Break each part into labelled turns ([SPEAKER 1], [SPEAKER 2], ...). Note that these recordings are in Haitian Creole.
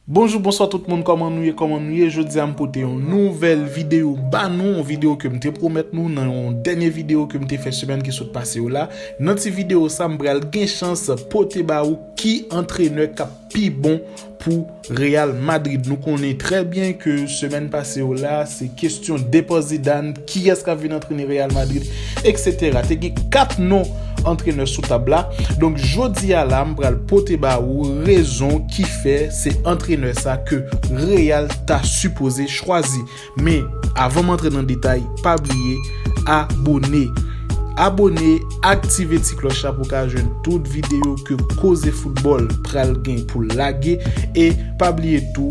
[SPEAKER 1] Bonjou bonswa tout moun kòman nou ye kòman nou ye jodia m pote yon nouvèl video ba nou yon video kem te pwomèt nou nan yon dènye video kem te fè semèn ki sot pase yo la nan ti video sa m pral gen chans pote ba ou ki antrenè kap pi bon pou Real Madrid nou konnen trè byen ke semèn pase yo la se kestyon depo Zidane Kiyès k ap vin antrene Real Madrid eksetera. Te gen 4 non antrenè sou tab la. Donk jodi a la m pral pote ba ou rezon ki fè se antrenè sa ke Real ta sipoze chwazi. Men avan m antre nan detay pa bliye abone. Abone, aktive ti klòch la pou w ka jwenn tout videyo ke Koze Foutbòl pral gen pou lage e pa bliye tou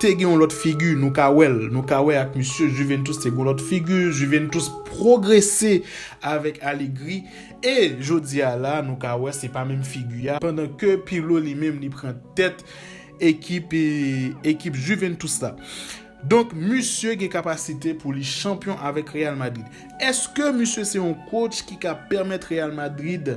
[SPEAKER 1] Te gen yon lòt figi, nou ka wè l, nou ka wè ak misye Juventus te gen yon lòt figi, Juventus pwogrese avèk Allegri e jodi a la nou ka wè se pa menm figi a pandan ke Pirlo li menm li pran tèt ekip ekip Juventus la. Donk misye gen kapasite pou li chanpyon avèk Real Madrid. Eske misye se yon coach ki ka pèmèt Real Madrid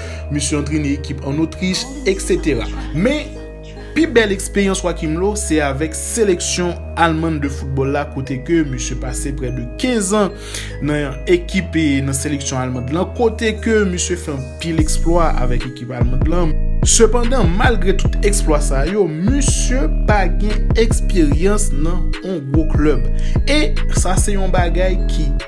[SPEAKER 1] Misye antrene ekip an Otrich, etc. Men, pi bèl eksperyans Joachim Low se avèk seleksyon Alman de foutbòl la kote ke misye pase prè de 15 an nan ekip nan seleksyon Alman lan kote ke misye fè anpil eksplwa avèk ekip Alman lan. Sepandan, malgre tout eksplwa sa yo, misye pa gen eksperyans nan yon gwo klèb. E, sa se yon bagay ki.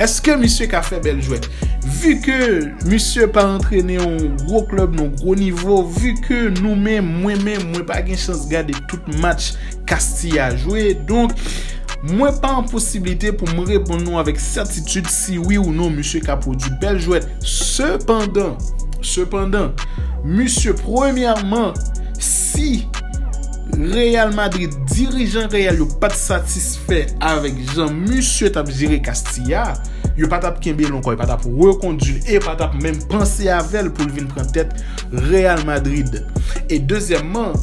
[SPEAKER 1] Eske misye ka fè bèl jwèt? Vu ke misye pa antrene yon gwo klèb non gwo nivo, vu ke nou menm, mwen menm, mwen pa gen chans gade tout match Castilla jwe, donk, mwen pa an posiblite pou m reponn nou avèk sètitid si wi ou non misye ka pwodui bèl jwèt. Sepandan, sepandan, misye premyèman, si Real Madrid, dirijan Real yo pa t satisfè, fè avèk jan misye tap jere Castilla, yo pa tap kenbel ankò, yo pa tap rekondwil e yo pa tap menm panse avèl poul vin pran tèt Real Madrid. E dezyèmman,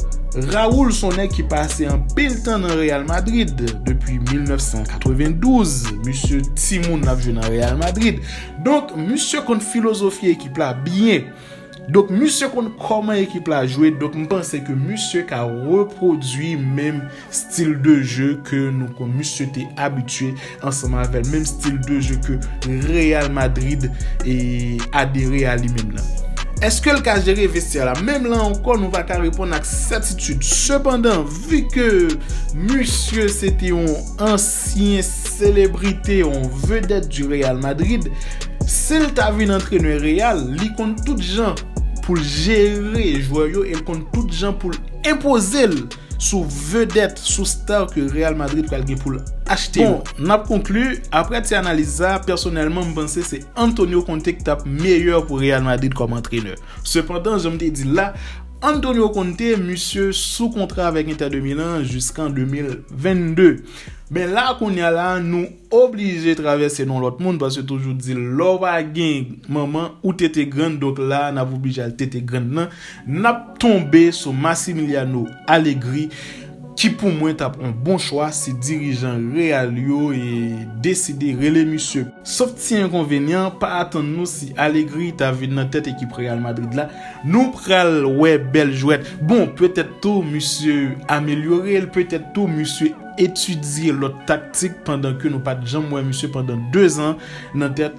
[SPEAKER 1] Raúl son nèg ki pase anpil tan nan Real Madrid, depi 1992 misye timoun lap jwe nan Real Madrid. Donk misye konn filozofi ekip la byen. Donk misye konn kòman ekip la jwe, donk m panse ke misye ka repwodui menm stil de je ke nou konn misye te abitye ansanm avè l, menm stil de je ke Real Madrid adere a li menm nan. Eske l ka jere vestyè la? Menm la ankò nou pa ka reponn ak sètitid. Sepandan, vi ke misye se te yon. Si yon selebrite, yon vedèt du Real Madrid, si l ta vin antrenè Real, li konn tout jan pou l jere jwè yo e l konn tout jan pou l enpoze l sou vedèt, sou star ke Real Madrid pral gen pou l achte yo. Bon, n ap konkli, aprè ti analiz sa, pèsonèlman m panse se Antonio Conte ki t ap meyè pou Real Madrid kòm antrenè. Sepandan, jan m te di l la, Antonio Conte, misye sou kontra avèk Inter de Milan jiskan 2022. Men la kounya la, nou oblije travèse non lòt moun, paske toujou di lè w pa gen manman, ou tete grann, donk la a n ap oblije al tete grann nan, n ap tonbe sou Massimiliano Allegri, Ki pou mwen tap on bon chwa si dirijan real yo deside rele misye. Sof ti enkonvenyan, pa atann nou si Allegri ta vin nan tèt ekip Real Madrid la, nou pral wè bèl jwèt. Bon, petèt tou misye amelyore, petèt tou misye etidye lòt taktik pandan ke nou pat janm wè misye pandan 2 zan nan tèt